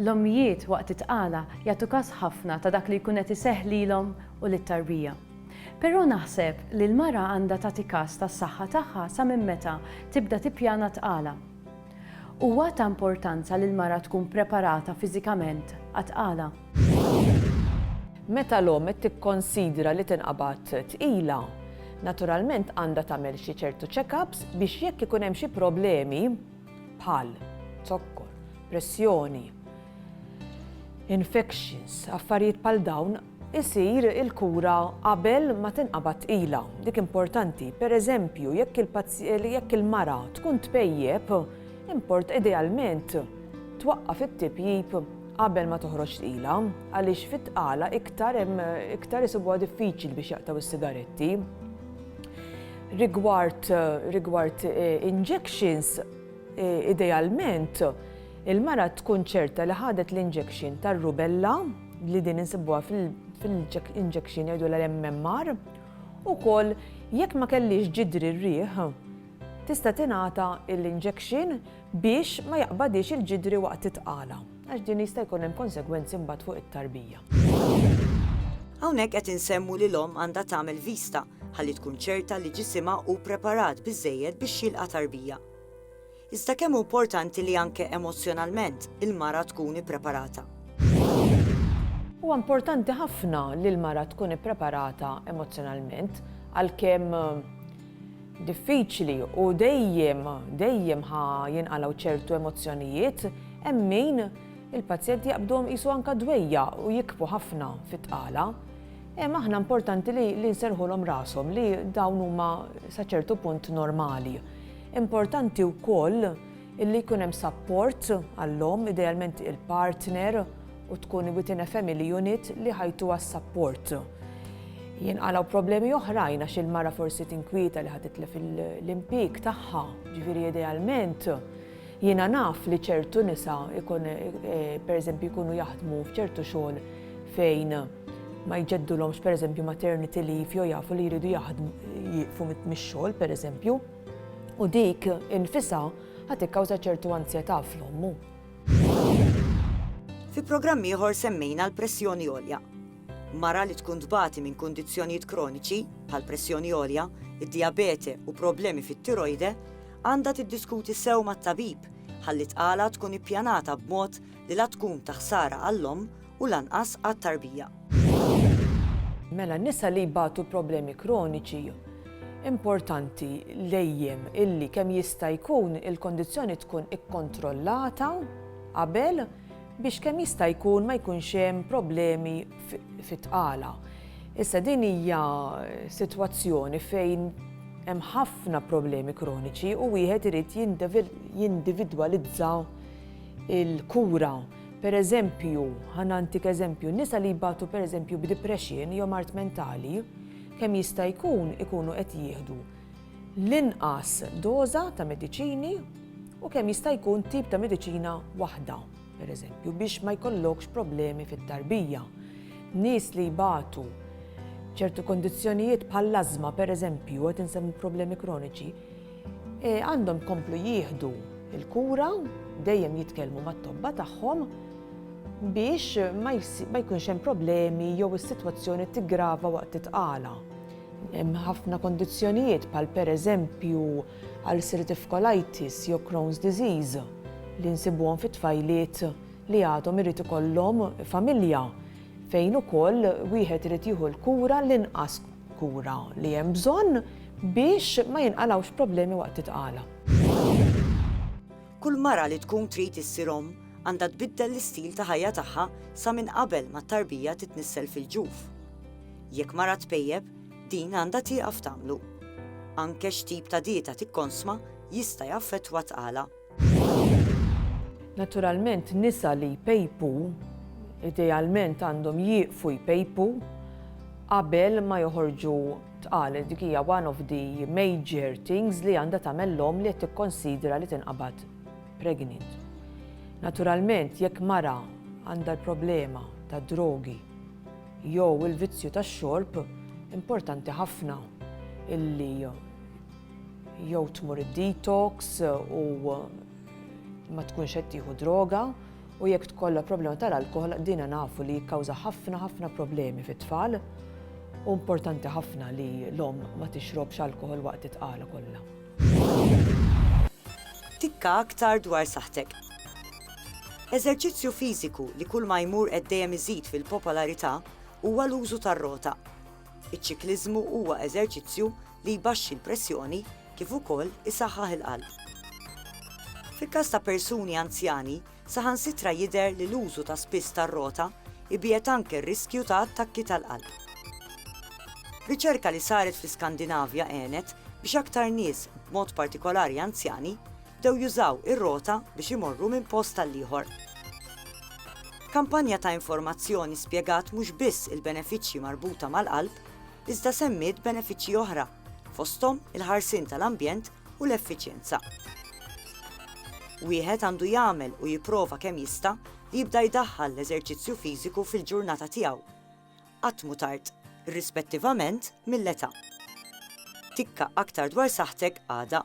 L-ommijiet waqt it-tqala jagħtu kas ħafna ta' dak li jkun qed iseħħ lilhom u lit-tarbija. Però naħseb li l-mara għandha tagħti kas tas-saħħa tagħha sa minn meta tibda tippjana t-tqala. Huwa ta' importanza li l-mara tkun preparata fiżikament għat-tqala. Meta l-omm qed tikkonsidra li tinqabad tqila, naturalment għandha tagħmel xi ċertu check-ups biex jekk ikun hemm xi problemi, bħal zokkor, pressjoni, infections, affarijiet bħal dawn, isir il-kura qabel ma tinqabad tqila. Dik importanti, per eżempju, jekk il-mara tkun tpejjep, import idealment twaqqaf it-tipjip qabel ma toħroġ tqila, għaliex fit-tqala iktar isibuha diffiċli biex jaqtgħu s-sigaretti. Rigward, rigward eh, injections, eh, idealment, il-mara tkun ċerta li ħadet l-injection tar-rubella li din insibuha fil-injection jgħidu l-MMR u kol jekk ma kellix ġidri r-riħ tista' tingħata l-injection biex ma jaqbadhiex il-ġidri waqt it-tqala, għax din jista' jkun hemm konsegwenzi mbagħad fuq it-tarbija. Hawnhekk qed insemmu li l-omm għandha tagħmel vista ħalli tkun ċerta li ġisimha hu ppreparat biżżejjed biex jilqa' tarbija. Iżda kemm hu importanti li anke emozzjonalment il-mara tkun ippreparata. Huwa importanti ħafna li l-mara tkun ippreparata emozzjonalment għalkemm diffiċli u dejjem, dejjem ħa jinqalgħu ċertu emozzjonijiet, hemm min il-pazjenti jaqbduhom qisu anke dwejja u jikbu ħafna fit-tqala. Hemm aħna importanti li, li nserħulhom rashom li dawn huma sa ċertu punt normali. Importanti wkoll illi jkun hemm sapport għall-omm, idealment il-partner, u tkun within a family unit li ħajtuha s-sapport. Jinqalgħu problemi oħrajn għax il-mara forsi tinkwieta li ħa titlef l-impjieg tagħha, ġifieri idealment jiena naf li ċertu nisa ikun eh, pereżempju jkunu jaħdmu f'ċertu xogħol fejn ma jġeddulhomx pereżempju maternity leave jew jafu li jridu jaħdmu jieqfu mix-xogħol pereżempju u dik infisa ħad ikkawża ċertu anzjetà fl-ommu. Fi programm ieħor semmejna l-pressjoni għolja. Mara li tkun tbati minn kundizzjonijiet kroniċi bħal pressjoni għolja, id-dijabete u problemi fit-tirojde għandha tiddiskuti sew mat-tabib ħalli tqala tkun ippjanata b'mod li la tkun ta' ħsara għall-omm u lanqas għat-tarbija. Mela nisa li jbatu problemi kroniċi importanti lejjem illi kemm jista' jkun il-kondizzjoni tkun ikkontrollata qabel biex kemm jista' jkun ma jkunx hemm problemi fit-tqala. Issa din hija sitwazzjoni fejn hemm ħafna problemi kroniċi u wieħed irid jindividwalizza il-kura. Per eżempju, ħa nantik eżempju, nisa li jbatu per eżempju b'depression jew mart mentali, kemm jista' jkun ikunu qed jieħdu l-inqas doża ta' mediċini u kemm jista' jkun tip ta' mediċina waħda, per eżempju, biex ma jkollokx problemi fit-tarbija. Nies li jbatu ċertu kondizzjonijiet bħall-azma, per eżempju, qed insemmu problemi kroniċi, Għandhom jkomplu jieħdu l-kura, dejjem jitkellmu mat-tobba tagħhom biex ma jkunx hemm problemi jew is-sitwazzjoni tiggrava waqt it-tqala. Hemm ħafna kondizzjonijiet bħal pereżempju ulcerative colitis jew Crohn's disease li nsibuhom fi tfajliet li għadhom irid ikollhom familja fejn ukoll wieħed irid jieħu l-kura l-inqas kura li hemm bżonn biex ma jinqalgħux problemi waqt it-tqala. Kull mara li tkun trid issir omm għandha tbiddel l-istil ta' ħajja tagħha sa minn qabel ma t-tarbija titnissel fil-ġuf. Jekk mara tpejjep, din għandha tieqaf tagħmlu. Anke x'tip ta' dieta tikkonsma jista' jaffettwa t-tqala. Naturalment nisa li jpejpu idealment għandhom jieqfu jpejpu qabel ma joħorġu tqal. Dik hija one of the major things li għandha tagħmel l-omm li qed tikkonsidra li tinqabad pregnant. Naturalment jekk mara għandha l-problema tad-drogi jew il-vizzju tax-xorb, importanti ħafna illi jew tmur id-detox u ma tkunx qed tieħu droga u jekk tkollha problema tal-alkohol dina nafu li jikkawża ħafna ħafna problemi fit-tfal u importanti ħafna li l-om ma tixrobx alkohol waqt it-tqala kollha. Tikka aktar dwar saħtek. Eżerċizzju fiżiku li kull ma jmur qed dejjem iżid fil-popolarità huwa l-użu tar-rota. Iċ-ċikliżmu huwa eżerċizzju li jbaxxi l-pressjoni kif ukoll isaħħaħ il-qalb. Fil-każ ta' persuni anzjani, saħansitra jidher li l-użu ta' spiss tar-rota jbiegħed anke r-riskju ta' attakki tal-qalb. Riċerka li saret fl-Iskandinavja għenet biex aktar nies, b'mod partikolari anzjani, bdew jużaw ir-rota biex imorru minn post għall-ieħor. Kampanja ta' informazzjoni spjegat mhux biss il-benefiċċji marbuta mal-qalb, iżda semmiet benefiċċji oħra, fosthom il-ħarsien tal-ambjent u l-effiċjenza. Wieħed għandu jagħmel u jipprova kemm jista' li jibda jdaħħal l-eżerċizzju fiżiku fil-ġurnata tiegħu. Qatt mhu tard, irrispettivament mill-età. Tikka aktar dwar saħħtek għada.